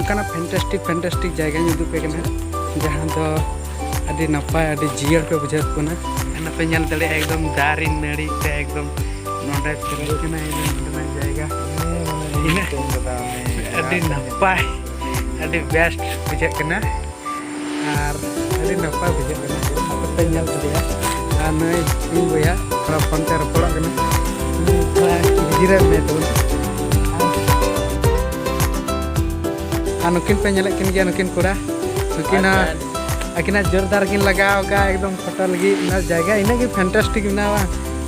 ᱚᱱᱠᱟᱱᱟᱜ fantastic fantastic ᱡᱟᱭᱜᱟᱧ ᱩᱫᱩᱜ ᱯᱮ ᱠᱟᱱᱟ ᱡᱟᱦᱟᱸ ᱫᱚ ᱟᱹᱰᱤ ᱱᱟᱯᱟᱭ ᱟᱹᱰᱤ ᱡᱤᱭᱟᱹᱲ ᱯᱮ ᱵᱩᱡᱷᱟᱹᱣ ᱠᱟᱱᱟ ᱱᱟᱯᱟᱭ ᱧᱮᱞ ᱫᱟᱲᱮᱭᱟᱜᱼᱟ ᱮᱠᱫᱚᱢ ᱫᱟᱨᱮ ᱱᱟᱹᱲᱤ ᱛᱮ ᱮᱠᱫᱚᱢ ᱱᱚᱰᱮ ᱯᱮᱨᱮᱡ ᱠᱟᱱᱟ ᱱᱚᱰᱮᱱᱟᱜ ᱡᱟᱭᱜᱟ ᱟᱹᱰᱤ ᱱᱟᱯᱟᱭ ᱟᱹᱰᱤ ᱵᱮᱥᱴ ᱵᱩᱡᱷᱟᱹᱜ ᱠᱟᱱᱟ ᱟᱨ ᱟᱹᱰᱤ ᱱᱟᱯᱟᱭ ᱵᱩᱡᱷᱟᱹᱜ ᱠᱟᱱᱟ ᱟᱯᱮ ᱧᱮᱞ ᱠᱮᱫᱮᱭᱟ ᱟᱨ ᱱᱩᱭ ᱤᱧ ᱵᱚᱭᱦᱟ ᱛᱷᱚᱲᱟ ᱯᱷᱳᱱ ᱛᱮ ᱨᱚᱯᱚᱲᱚᱜ ᱠᱟᱱᱟ ᱛᱷᱚᱲᱟ ᱡᱤᱨᱟᱹᱜ ᱢᱮ ᱛᱟᱵᱚᱱ ᱟᱨ ᱱᱩᱠᱤᱱ ᱯᱮ ᱧᱮᱞᱮᱫ ᱠᱤᱱ ᱜᱮᱭᱟ ᱱᱩᱠᱤᱱ ᱠᱚᱲᱟ ᱱᱩᱠᱤᱱ ᱟᱹᱠᱤᱱᱟᱜ ᱡᱳᱨᱫᱟᱨ ᱠᱤᱱ ᱞᱟᱜᱟᱣ ᱠᱟᱜᱼᱟ ᱮᱠᱫᱚᱢ ᱯᱷᱳᱴᱳ ᱞᱟᱹᱜᱤᱫ ᱚᱱᱟ ᱡᱟᱭᱜᱟ ᱤᱱᱟᱹᱜ ᱜᱮ ᱯᱷᱮᱱᱴᱟᱥᱴᱤᱠ ᱢᱮᱱᱟᱜᱼᱟ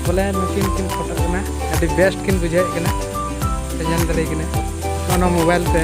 ᱵᱚᱞᱮ ᱱᱩᱠᱤᱱ ᱠᱤᱱ ᱯᱷᱳᱴᱳ ᱠᱟᱱᱟ ᱟᱹᱰᱤ ᱵᱮᱥᱴ ᱠᱤᱱ ᱵᱩᱡᱷᱟᱹᱣᱮᱫ ᱠᱟᱱᱟ ᱯᱮ ᱧᱮᱞ ᱫᱟᱲᱮᱭᱟᱠᱤᱱᱟ ᱚᱱᱟ ᱢᱳᱵᱟᱭᱤᱞ ᱛᱮ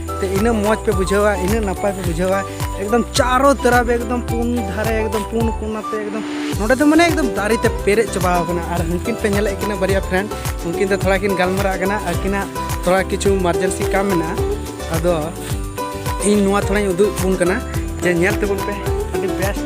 ᱛᱮ ᱤᱱᱟᱹ ᱢᱚᱡᱽ ᱯᱮ ᱵᱩᱡᱷᱟᱹᱣᱟ ᱤᱱᱟᱹ ᱱᱟᱯᱟᱭ ᱯᱮ ᱵᱩᱡᱷᱟᱹᱣᱟ ᱮᱠᱫᱚᱢ ᱪᱟᱨᱚ ᱛᱮᱨᱟᱵ ᱮᱠᱫᱚᱢ ᱯᱩᱱ ᱫᱷᱟᱨᱮ ᱮᱠᱫᱚᱢ ᱯᱩᱱ ᱠᱚᱱᱟᱛᱮ ᱮᱠᱫᱚᱢ ᱱᱚᱰᱮ ᱫᱚ ᱢᱟᱱᱮ ᱮᱠᱫᱚᱢ ᱫᱟᱨᱮ ᱛᱮ ᱯᱮᱨᱮᱡ ᱪᱟᱵᱟ ᱟᱠᱟᱱᱟ ᱟᱨ ᱩᱱᱠᱤᱱ ᱯᱮ ᱧᱮᱞᱮᱫ ᱠᱤᱱᱟ ᱵᱟᱨᱭᱟ ᱯᱷᱨᱮᱱᱰ ᱩᱱᱠᱤᱱ ᱫᱚ ᱛᱷᱚᱲᱟ ᱠᱤᱱ ᱜᱟᱞᱢᱟᱨᱟᱜ ᱠᱟᱱᱟ ᱟᱹᱠᱤᱱᱟᱜ ᱛᱷᱚᱲᱟ ᱠᱤᱪᱷᱩ ᱢᱟᱨᱡᱮᱱᱥᱤ ᱠᱟᱢ ᱢᱮᱱᱟᱜᱼᱟ ᱟᱫᱚ ᱤᱧ ᱱᱚᱣᱟ ᱛᱷᱚᱲᱟᱧ ᱩᱫᱩᱜ ᱵᱚᱱ ᱠᱟᱱᱟ ᱡᱮ ᱧᱮᱞ ᱛᱟᱵᱚᱱ ᱯᱮ ᱟᱹᱰᱤ ᱵᱮᱥᱴ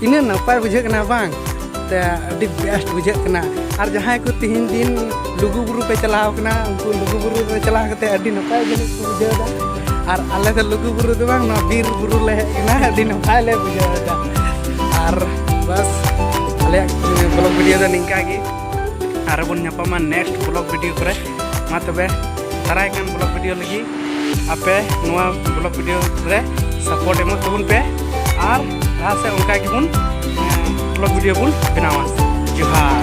ᱛᱤᱱᱟᱹᱜ ᱱᱟᱯᱟᱭ ᱵᱩᱡᱷᱟᱹᱜ ᱠᱟᱱᱟ ᱵᱟᱝ ᱛᱮ ᱟᱹᱰᱤ ᱵᱮᱥᱴ ᱵᱩᱡᱷᱟᱹᱜ ᱠᱟᱱᱟ ᱟᱨ ᱡᱟᱦᱟᱸᱭ ᱠᱚ ᱛᱤᱦᱤᱧ ᱫᱤᱱ ᱞᱩᱜᱩ ᱵᱩᱨᱩ ᱯᱮ ᱪᱟᱞᱟᱣ ᱠᱟᱱᱟ ᱩᱱᱠᱩ ᱞᱩᱜᱩ ᱵᱩᱨᱩ ᱨᱮ ᱪᱟᱞᱟᱣ ᱠᱟᱛᱮ ᱟᱹᱰᱤ ᱱᱟᱯᱟᱭ ᱡᱤᱱᱤᱥ ᱠᱚ ᱵᱩᱡᱷᱟᱹᱣ ᱮᱫᱟ ᱟᱨ ᱟᱞᱮ ᱫᱚ ᱞᱩᱜᱩ ᱵᱩᱨᱩ ᱫᱚ ᱵᱟᱝ ᱱᱚᱣᱟ ᱵᱤᱨ ᱵᱩᱨᱩ ᱞᱮ ᱦᱮᱡ ᱠᱟᱱᱟ ᱟᱹᱰᱤ ᱱᱟᱯᱟᱭ ᱞᱮ ᱵᱩᱡᱷᱟᱹᱣ ᱮᱫᱟ ᱟᱨ ᱵᱟᱥ ᱟᱞᱮᱭᱟᱜ ᱵᱞᱚᱜ ᱵᱷᱤᱰᱤᱭᱳ ᱫᱚ ᱱᱤᱝᱠᱟ ᱜᱮ ᱟᱨ ᱵᱚᱱ ᱧᱟᱯᱟᱢᱟ ᱱᱮᱠᱥᱴ ᱵᱞᱚᱜ ᱵᱷᱤᱰᱤᱭᱳ ᱠᱚᱨᱮ ᱢᱟ ᱛᱚᱵᱮ ᱫᱟᱨᱟᱭ ᱠᱟᱱ ᱵᱞᱚᱜ ᱵᱷᱤᱰᱤᱭᱳ ᱞᱟᱹᱜᱤᱫ ᱟᱯᱮ ᱱᱚᱣᱟ ᱵᱞᱚᱜ ᱵᱷᱤᱰᱤᱭᱳ ᱨᱮ ᱥᱟᱯᱳᱨᱴ ᱮᱢᱚᱜ ᱛᱟᱵᱚᱱ ᱯᱮ ᱟᱨ ᱞᱟᱦᱟ ᱥᱮᱫ ᱚᱱᱠᱟ ᱜᱮᱵᱚᱱ ᱵᱞᱚᱜ ᱵᱷᱤᱰᱤᱭᱳ ᱵᱚᱱ ᱵᱮᱱᱟᱣᱟ ᱡᱚᱦᱟᱨ